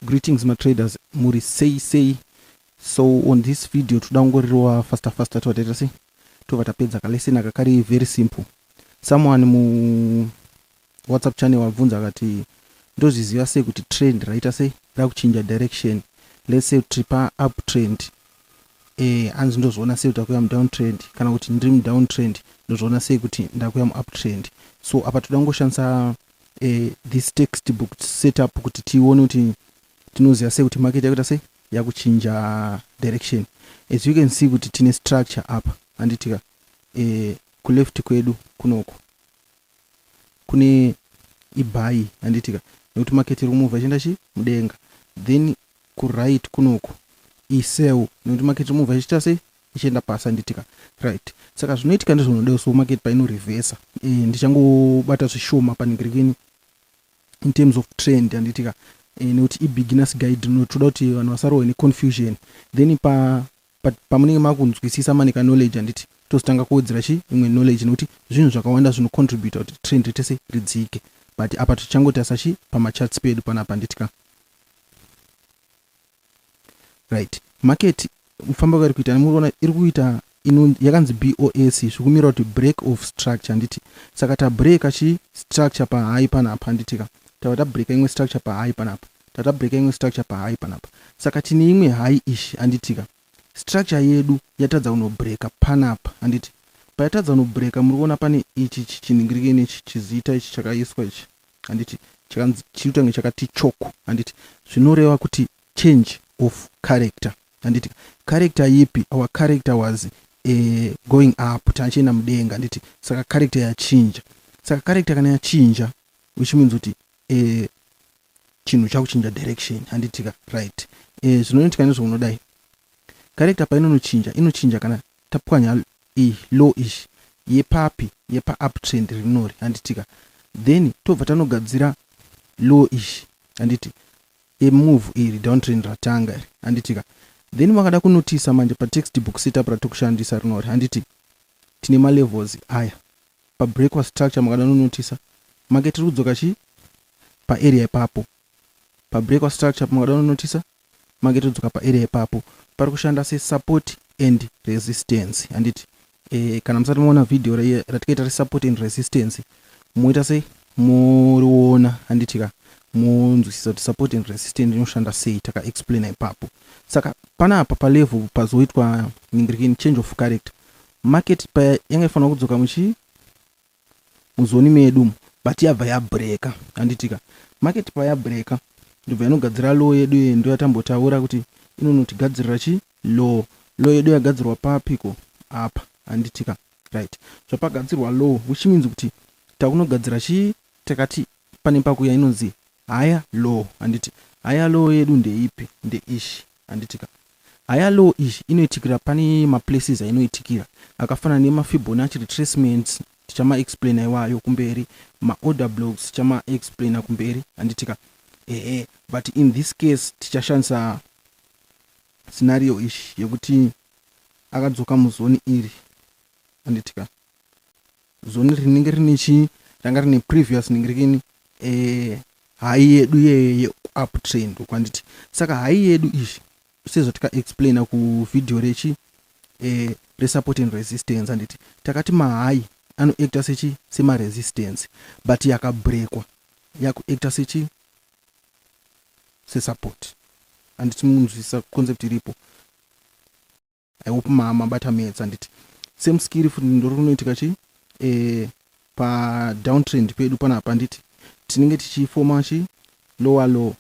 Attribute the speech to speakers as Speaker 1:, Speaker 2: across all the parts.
Speaker 1: Greetings ma traders muri sei sei so on this video toda kungorirowa faster faster tova taita sei tova tapedza kalesson aka kari very simple someone mu whatsapp channel wabvunza akati ndozviziva sei kuti trend raita sei rakuchinja direction let's say tiri pa up trend eh hanzi ndozviona sei kuti akuya mudown trend kana kuti ndiri mudown trend ndozviona sei kuti ndakuya muup trend so apa toda kungoshandisa uh, this textbook setup kuti tione kuti tinoziva sei kuti market yakuita sei yakuchinja direction as you can see kuti tine structure apa handitika uh, eh, kuleft kwedu kunoko kune ibai handitika nekuti market iri kumuvha ichienda chi mudenga then kuright kunoku iseu nekuti market ichimubva ichiita sei ichienda pasi anditika right saka zvinoitika ndizvinoda so market painorevhesa e, eh, ndichangobata zvishoma panigirikini in terms of trend anditika e, eh, nekuti ibeginners guide no toda kuti vanhu vasarohwe neconfusion then pa pamunenge makunzwisisa manika knowledge anditi tozotanga kuwedzera chi imwe knowledge nekuti zvinhu zvakawanda zvinocontributa kuti trend ritese ridzike but apa tichangotasa chi pamacharts pedu panapa anditika right market kufamba kwari kuita nemuriona iri kuita yakanzi bos zvikumira kuti break of structure handiti saka tabreaka chi structure pahai panapa handiti ka tava tabreaka imwe structure pahai panapa tava tabreaka imwe structure pahai panapa saka tine imwe hai ish handiti ka structure yedu yatadza kunobreaka panapa handiti payatadza kunobreaka muri kuona pane ichi chichinhingirike nechi chizita ichi chakaiswa ichi handiti chakanzi chiri kutange chakati choko handiti zvinoreva kuti change of character handiti character yipi our character was uh, going up taachienda mudenga handiti saka character yachinja saka character kana yachinja which means kuti uh, chinhu chakuchinja direction handitika right eh, zvinoitika nezvounodai character painonochinja inochinja kana tapwanya iyi low ish yepapi yepa up trend rinori handitika then tobva tanogadzira low ish handiti emove iri down trend ratanga iri handitika then makada kunotisa manje pa text book setup ratokushandisa rinori handiti tine ma levels aya pa break wa structure makada nonotisa market iri kudzoka chii pa area ipapo pa break wa structure makada nonotisa mange todzoka paarea ipapo pari kushanda sesupport and resistance handiti e, kana musati maona vhidhiyo ratikaita resupport and resistance moita se moriona handiti ka monzwisisa kuti support and resistance inoshanda sei takaexplaina ipapo saka panapa palevel pazoitwa ningirikini change of character market paya yanga ifanira kudzoka muchi muzoni medu umu but yabva yabreaker handitika market payabreaker ndobva yanogadzira law yedu iyoyo ndoyatambotaura kuti inonotigadzirira chi law law yedu yagadzirwa papiko apa handitika right zvapagadzirwa law which means kuti takunogadzira chii takati pane paku yainonzi higher law handiti higher law yedu ndeipi ndeishi handitika higher law iyi inoitikira pane maplaces ainoitikira akafanana nemafibonacci retracements tichamaexplaina iwayo kumberi maorder blocks tichamaexplaina kumberi handitika ehe but in this case tichashandisa scenario ishi yekuti akadzoka muzoni iri handitika zoni rinenge rine chii ranga rine previous ningirikini eh, hai yedu yeupptrend kwanditi saka hai yedu izvi sezvatikaexplaina kuvhidhiyo rechi eh, resupport and resistance handiti takati mahai anoacta sechi semaresistance but yakabrekwa yakuacta sechi sesupport handiti munzwisisa concept iripo I hope ma mabata maths handiti same skill futi ndori kunoitika chii eh, padowntrend pedu panapa handiti tinenge tichifoma chii lower low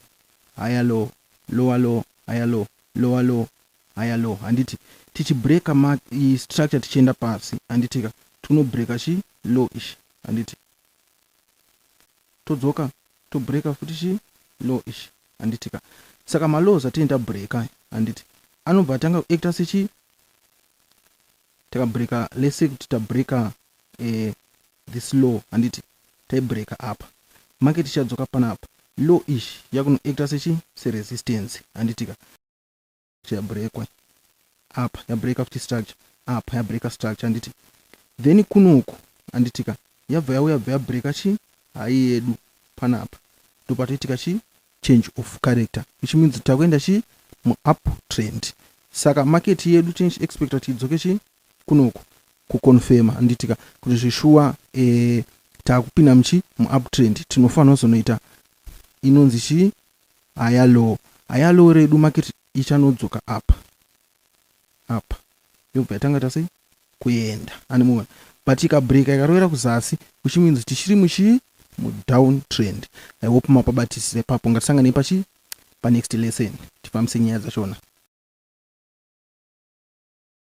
Speaker 1: higher low lower low higher low lower low higher low handiti tichibreaka ma i structure tichienda pasi handitika tinobreaka chii low ish handiti todzoka to breaker futi chii law ichi handiti ka saka ma laws atinenge ta breaker handiti anobva atanga ku actor sechii taka breaker let's say kuti ta breaker eh, this law handiti tai breaker apa make tichadzoka panapa law ichi yakuno actor sechii se resistance handiti ka chabreakwa apa yabreaka futi structure apa yabreaka structure handiti then kunoku handitika yabva yauya bva yabreaka chii hai yedu panapa ndopatoitika chii change of character which means takuenda chii muup trend saka market yedu tinch expecta kuti idzoke chii kunoku kuconfirma handitika kuti zvishuwa e, takupinda muchi muup trend tinofanira kuzonoita inonzi chii Haya low, haya low redu market ichanodzoka apa apa yobva yatanga tasei kuenda ane muona but ikabreaker ikarovera kuzasi which means tichiri muchii mudown trend i hope mapabatisire papo ngatisanganei pachii panext lesson tifambise nyaya dzachona